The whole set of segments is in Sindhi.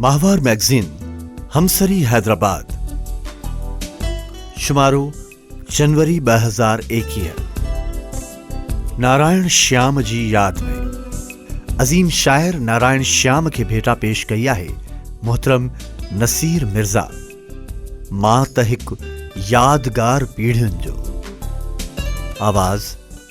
ماهوار مئگزين، همسري حيدرآباد، شمارو، جنوري ٻه هزار ايڪيهه، نارائڻ شيام جي ياد ۾ عظيم شاعر نارائڻ شيام کي ڀيٽا پيش ڪئي آهي محترم نصير مرزا. مان ته هڪ يادگار پيڙهين جو آواز.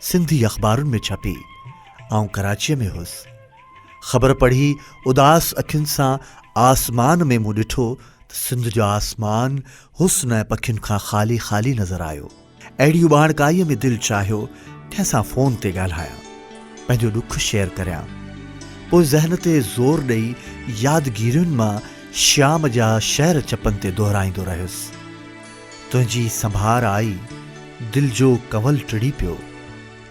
سنڌي اخبارن ۾ ڇپي. آئون ڪراچيء ۾ هوس. خبر پڙهي اداس اکين سان آسمان ۾ مون ڏٺو ته سنڌ جو آسمان حسن ۽ پکين کان خالي خالي نظر آيو. اهڙي اٻاڻڪائيء ۾ دل چاهيو ڪنهن سان فون تي ڳالهايان. پنهنجو ڏک شيئر ڪريان. پوء ذهن تي زور ڏئي يادگيرين مان شيام جا شعر چپن تي دهرائيندو رهيس. تنهنجي سنڀار آئي، دل جو ڪنول ٽڙي پيو.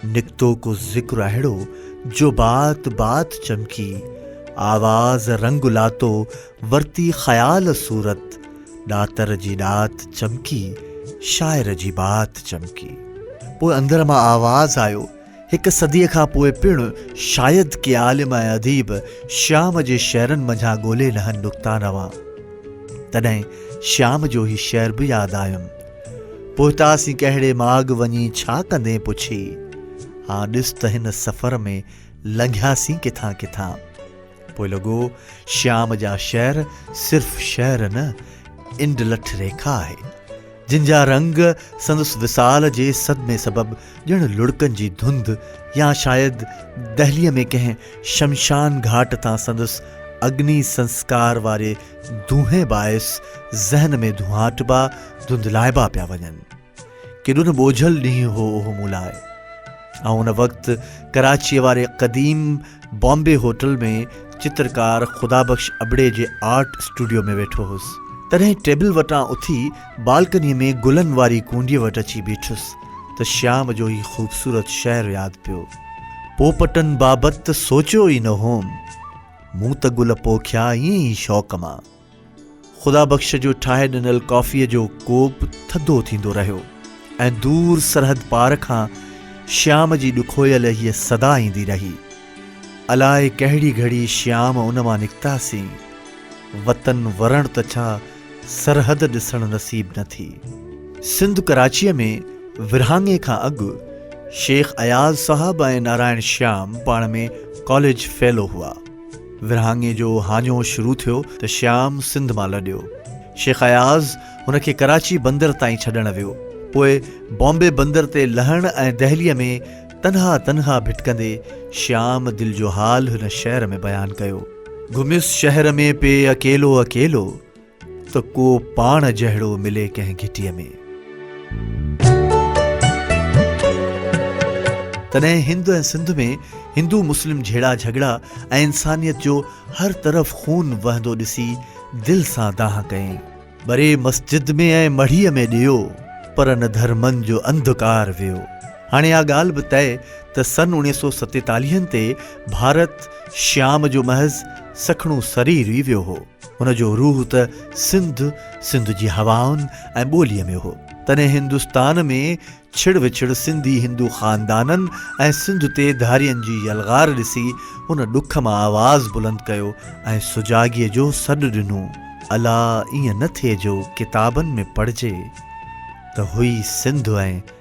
نڪتو ڪو ذڪر اهڙو، جو بات بات چمڪي. آواز رنگ لاتو، ورتي خيال صورت. ڏاتر جي ڏات چمڪي، شاعر جي بات چمڪي. پوء اندر مان آواز آيو. هڪ صديء کان پوء پڻ شايد ڪي عالم ۽ اديب شيام جي شعرن منجهان ڳولي لهن نڪتا نوان. تڏهن شيام جو هي شعر به ياد آيم. پهتاسين ڪهڙي ماڳ وڃي ڇا ڪندين پڇي. هان ڏس ته هن سفر ۾ لنگهياسين ڪٿان ڪٿان. پوء لڳو شيام جا شعر صرف شعر نه انڊ لٺ ريکا آهي جن جا رنگ سندس وصال جي صدمي سبب ڄڻ لڙڪن جي ڌنڌ يا شايد دهلي ۾ ڪنهن شمشان گهاٽ تان سندس اگني سنسڪار واري دونهين باعث ذهن ۾ ڌونهاٽبا، ڌنڌلائبا پيا وڃن. ڪيڏو نه ٻوجهل ڏينهن هو اهو مون لاء. آئون ان وقت ڪراچيء واري قديم بامبي هوٽل ۾ چترڪار خدا بخش ابڙي جي آرٽ اسٽوڊيو ۾ ويٺو هوس. تڏهن ٽيبل وٽان اٿي بالڪنيء ۾ گلن واري ڪونڊيء وٽ اچي بيٺس ته شيام جو هي خوبصورت شعر ياد پيو. پوپٽن بابت ته سوچيو ئي نه هوم. مون ته گل پوکيا ائين ئي شوق مان. خدا بخش جو ٺاهي ڏنل ڪافيء جو ڪوپ ٿڌو ٿيندو رهيو ۽ دور سرحد پار کان شيام جي ڏکويل هيء صدا ايندي رهي، الاء ڪهڙي گهڙي شيام ان مان نڪتاسين، وطن ورڻ ته ڇا سرحد ڏسڻ نصيب نه ٿي. سنڌ ڪراچيء ۾ ورهاڱي کان اڳ شيخ اياز صاحب ۽ نارائڻ شيام پاڻ ۾ ڪاليج فيلو هئا. ورهاڱي جو هاڃو شروع ٿيو ته شيام سنڌ مان لڏيو. شيخ اياز هن کي ڪراچي بندر تائين ڇڏڻ ويو. پوء بامبي بندر تي لهڻ ۽ دهليء ۾ تنها تنها ڀٽڪندي شيام دل جو حال هن شعر ۾ بيان ڪيو. گهميس شهر ۾ پئي اڪيلو اڪيلو. ته ڪو پاڻ جهڙو ملي ڪنهن گهٽيء ۾. تڏهن هند ۽ سنڌ ۾ هندو مسلم جهيڙا جهڳڙا ۽ انسانيت جو هر طرف خون وهندو ڏسي دل سان دانهن ڪيائين. ٻري مسجد ۾ ۽ مڙهيء ۾ ڏيو، پر نه ڌرمن جو انڌڪار ويو. هاڻي اها ڳالهه به طئي ته سن اوڻيهه سؤ ستيتاليهن تي ڀارت شيام جو محض سکڻو سرير ئي ويو هو. هن جو روح ته سنڌ، سنڌ جي هوائن ۽ ٻوليء ۾ هو. تڏهن هندستان ۾ ڇڙ وڇڙ سنڌي هندو خاندانن ۽ سنڌ تي ڌارين جي يلغار ڏسي هن ڏک مان آواز بلند ڪيو ۽ سجاڳيء جو سڏ ڏنو، الا ائين نه ٿئي جو ڪتابن ۾ پڙهجي ته هئي سنڌ ۽.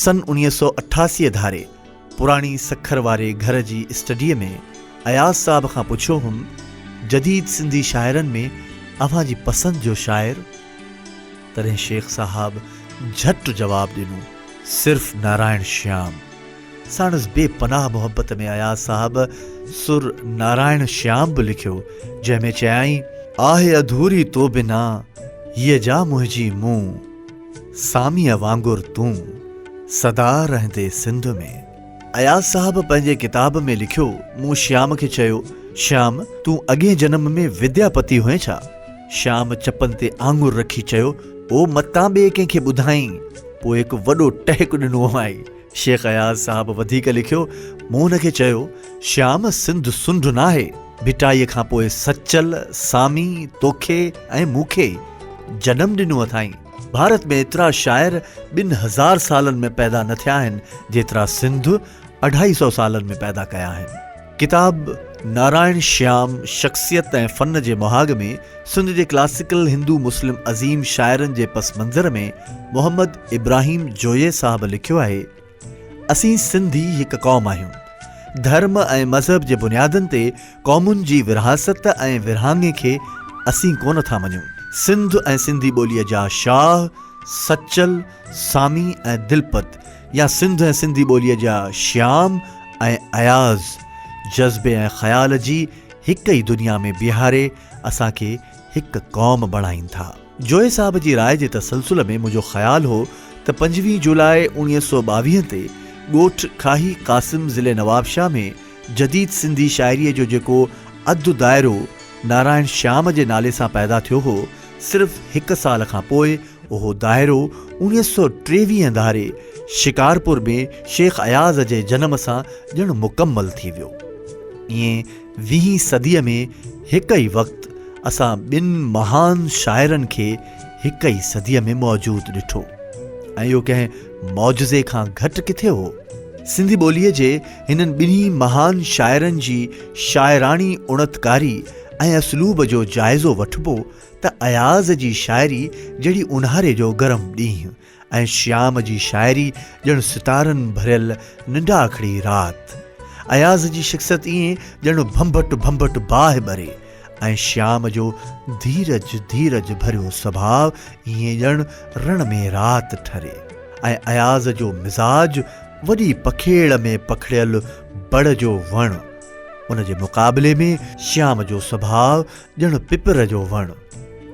سن اڻيهه سؤ اٺاسي ڌاري پراڻي سکر واري گهر جي اسٽڊيء ۾ اياز صاحب کان پڇيو هوم، جديد سنڌي شاعرن ۾ اوهان جي پسند جو شاعر؟ تڏهن شيخ صاحب جهٽ جواب ڏنو، صرف نارائڻ شيام. ساڻس بي پناهه محبت ۾ اياز صاحب سر نارائڻ شيام به لکيو، جنهن ۾ چيائين. آهه اڌوري تو بنا، هيء جا منهنجي مون. ساميء وانگر تون سدا رهندي سنڌ ۾. اياز صاحب پنهنجي ڪتاب ۾ لکيو، مون شيام کي چيو، شيام، تون اڳئين جنم ۾ وديا پتي هئين ڇا؟ شيام چپن تي آڱر رکي چيو، او متان ٻئي ڪنهن کي ٻڌائين، پوء هڪ وڏو ٽهڪ ڏنو هئائين. شيخ اياز صاحب وڌيڪ لکيو، مون هن کي چيو، شيام سنڌ سنڍ ناهي، ڀٽائيء کان پوء سچل، سامي، توکي ۽ مون کي ئي جنم ڏنو اٿائين. ڀارت ۾ ايترا شاعر ٻن هزار سالن ۾ پيدا نه ٿيا آهن، جيترا سنڌ اڍائي سئو سالن ۾ پيدا ڪيا آهن. ڪتاب نارائڻ شيام شخصيت ۽ فن جي مهاڳ ۾ سنڌ جي ڪلاسيڪل هندو مسلم عظيم شاعرن جي پس منظر ۾ محمد ابراهيم جويي صاحب لکيو آهي اسين سنڌي هڪ قوم آهيون ڌرم ۽ مذهب جي بنيادن تي قومن جي ورهاست ۽ ورهاڱي کي اسين ڪونه ٿا مڃون سنڌ ۽ سنڌي ٻوليء جا شاهه سچل سامي ۽ دلپت يا سنڌ ۽ سنڌي ٻوليء جا شيام ۽ اياز جذبي ۽ خيال جي هڪ ئي دنيا ۾ بيهاري اسان کي هڪ قوم بڻائين ٿا. جويي صاحب جي راء جي تسلسل ۾ منهنجو خيال هو ته پنجويهه جولاء اوڻيهه سؤ ٻاويهه تي ڳوٺ کاهي قاسم ضلعي نوابشاهه ۾ جديد سنڌي شاعريء جو جيڪو اڌ دائرو نارائڻ شيام جي نالي سان پيدا ٿيو هو صرف هڪ سال کان پوء اهو دائرو اوڻيهه سؤ ٽيويهه ڌاري شڪارپور ۾ شيخ اياز جي جنم سان ڄڻ مڪمل ٿي ويو. ايئن ويهين صديء ۾ هڪ ئي وقت اسان ٻن مهان شاعرن کي هڪ ئي صديء ۾ موجود ڏٺو ۽ اهو ڪنهن معجزي کان گهٽ ڪٿي هو؟ سنڌي ٻوليء جي هنن ٻنهي مهان شاعرن جي شاعراڻي اڻتڪاري ۽ اسلوب جو جائزو وٺبو ته اياز جي شاعري جهڙي اونهاري جو گرم ڏينهن ۽ شيام جي شاعري ڄڻ ستارن ڀريل ننڊاکڙي رات. اياز جي شخصيت ائين ڄڻ ڀنڀٽ ڀنڀٽ باهه ٻري ۽ شيام جو ڌيرج ڌيرج ڀريو سڀاء ائين ڄڻ رڻ ۾ رات ٺري ۽ اياز جو مزاج وڏي پکيڙ ۾ پکڙيل بڙ جو وڻ ان جي مقابلي ۾ شيام جو سڀاء ڄڻ پپر جو وڻ.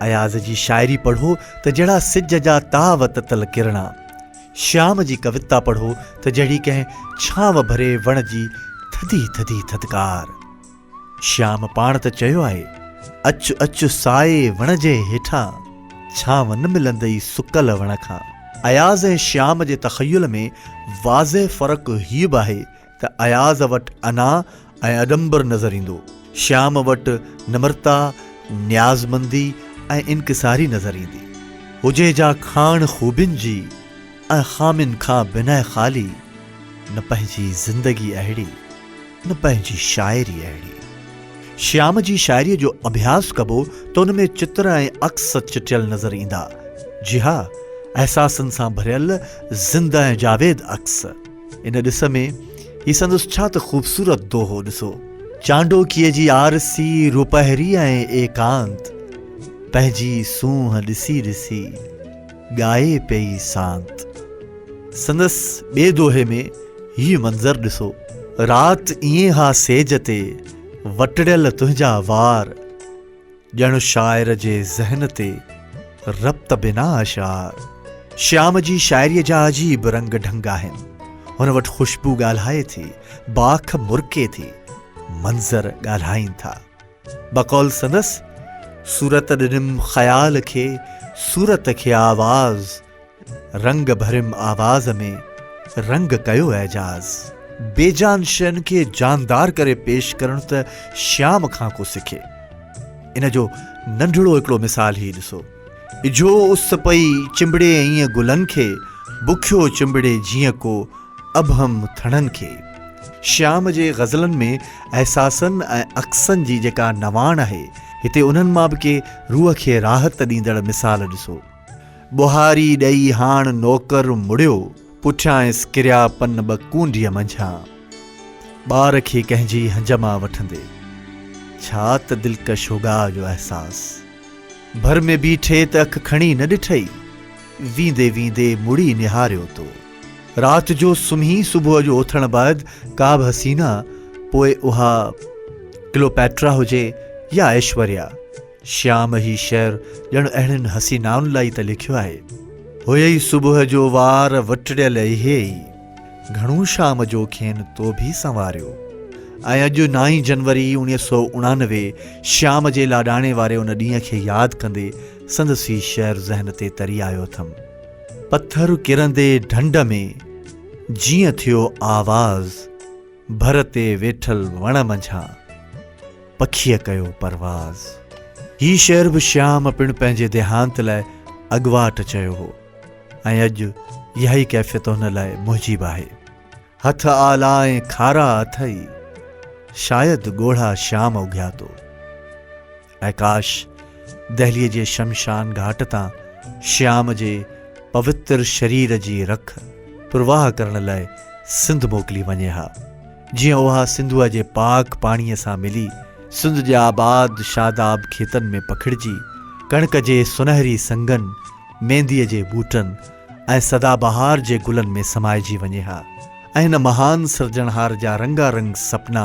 اياز جي شاعري پڙهو ته جهڙا سج جا تاء وتتل ڪرڻا. شيام جي ڪوتا پڙهو ته جهڙي ڪنهن ڇانو ڀري وڻ جي ٿڌي ٿڌي ٿڌڪار. شيام پاڻ ته چيو آهي، اچ اچ سائي وڻ جي هيٺان، ڇانو نه ملندئي سڪل وڻ کان. اياز ۽ شيام جي تخيل ۾ واضح فرق هي به آهي ته اياز وٽ انا ۽ اڏمبر نظر ايندو، شيام وٽ نمرتا، نيازمندي ۽ انڪساري نظر ايندي. هجي جا کاڻ خوبين جي ۽ خامين کان بنهه خالي، نه پنهنجي زندگي اهڙي، نه پنهنجي شاعري اهڙي. شيام جي شاعريء جو اڀياس ڪبو ته ان ۾ چتر ۽ عڪس چٽيل نظر ايندا، جي ها، احساسن سان ڀريل زنده ۽ جاويد عڪس. ان ڏس ۾ هي سندس ڇا ته خوبصورت دوهو ڏسو. چانڊوڪيء جي آرسي روپهري ۽ ايڪانت، پنهنجي سونهن ڏسي ڏسي ڳائي پئي سانت. سندس ٻئي دوهي ۾ هي منظر ڏسو. رات ائين ها سيج تي، وٽڙيل تنهنجا وار. ڄڻ شاعر جي ذهن تي ربط بنا اشعار شيام جي شاعريء جا عجيب رنگ ڍنگ آهن. هن وٽ خوشبو ڳالهائي ٿي، باک مرڪي ٿي، منظر ڳالهائين ٿا. بقول سندس، صورت ڏنم خيال کي، صورت کي آواز، رنگ ڀريم آواز ۾ رنگ ڪيو اعجاز. بي جان شين کي جاندار ڪري پيش ڪرڻ ته شيام کان ڪو سکي. ان جو ننڍڙو هڪڙو مثال هي ڏسو. اجهو اس پئي چنبڙي ائين گلن کي، بکيو چنبڙي جيئن ڪو ابهم ٿڻن کي. شيام جي غزلن ۾ احساسن ۽ عڪسن جي جيڪا نواڻ آهي، هتي انهن مان به ڪي روح کي راحت ڏيندڙ مثال ڏسو. ٻهاري ڏئي هاڻ نوڪر مڙيو، پٺيانئس ڪريا پن ٻه ڪونڊيء منجهان، ٻار کي ڪنهن جي هنج مان وٺندي. ڇا ته دلڪش هوڳاء جو احساس! ڀر ۾ بيٺي ته اک کڻي نه ڏٺئي، ويندي ويندي مڙي نهاريو تو. رات جو سمهي صبح جو اٿڻ بعد ڪابه حسينه، پوء اها ڪلوپيٽرا هجي يا ايشوريا، شيام هي شعر ڄڻ اهڙين حسينائن لاء ئي ته لکيو آهي. هئي صبح جو وار وٽڙيل اهي ئي، گهڻو شام جو کين تو ڀي سنواريو. ۽ اڄ نائين جنوري اوڻيهه سؤ اڻانوي شيام جي لاڏاڻي واري ان ڏينهن کي ياد ڪندي سندس هي شعر ذهن تي تري آيو اٿم. پٿر ڪرندي ڍنڍ ۾، جيئن ٿيو آواز. ڀر تي ويٺل وڻ منجهان پکيء ڪيو پرواز. هي شعر به شيام پڻ پنهنجي ديهانت لاء اڳواٽ چيو هو ۽ اڄ اها ئي ڪيفيت هن لاء موجب آهي. هٿ آلا ۽ کارا اٿئي، شايد ڳوڙها شيام اگهيا تو. ۽ ڪاش دهليء جي شمشان گهاٽ تان شيام جي پوتر شرير جي رک پرواهه ڪرڻ لاء سنڌ موڪلي وڃي ها جيئن اها سنڌوء جي پاڪ پاڻيء سان ملي سنڌ جي آباد شاداب کيتن ۾ پکڙجي ڪڻڪ جي سنهري سنگن، مينديء جي ٻوٽن ۽ سدا بهار جي گلن ۾ سمائجي وڃي ها ۽ هن مهان سرجڻهار جا رنگا رنگ سپنا